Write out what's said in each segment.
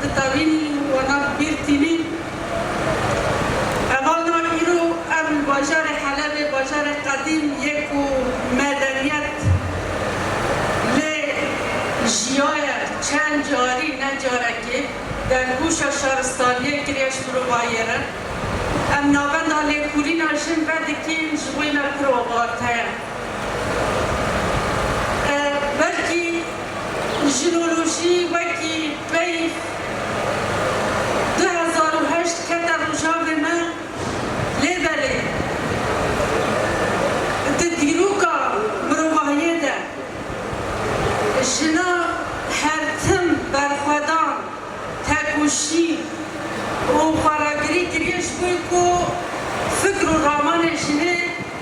Di tevîn û nav Bîrtînî heval da îro ev li bajarê Helebê bajarê qedîm yê ku medeniyet lê jiyaye çend carî ne carekê dergûşa şaristaniyê kiriye ji mirovahiyê re. Em navenda lêkolîna jin vedikîn ji wêne ku rewate ye. Belkî jinolojî wekî peyv du hezar û heşt kete rojavê me lê belê di dîroka mirovahiyê de jina her tim berxwedan, tekoşîn û xweragirî kiriye ji bo ku fikr û ramanê jinê,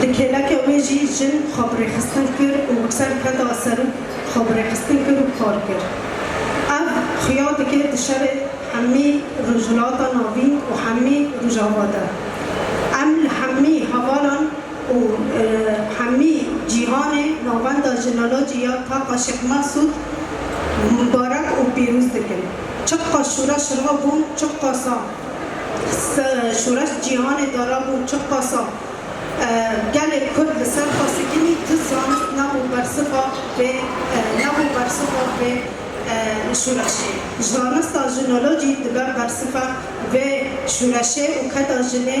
Li kêleke wê jî jin xwebirêxistin kir û bi ser ke da ser û xwebirêxistin kir û kar kir. Ev xuya dike di şerê hemî Rojhilata Navîn û hemî Rojava de. Em li hemî hevalan û hemî cîhanê navenda Jineloji ya Taqa Şêx Mexsûd mubarek û pîroz dikin. Çiqas şûreş rava bûn, çiqas a. Şoreş Cîhanê Darabû Çiqasa Gelê Kurd li ser xwe sikinî tu zanist nebû bersiva vê nebû bersiva vê şoreşê. Zanista jinolojî dibe bersiva vê şoreşê û keda jinê.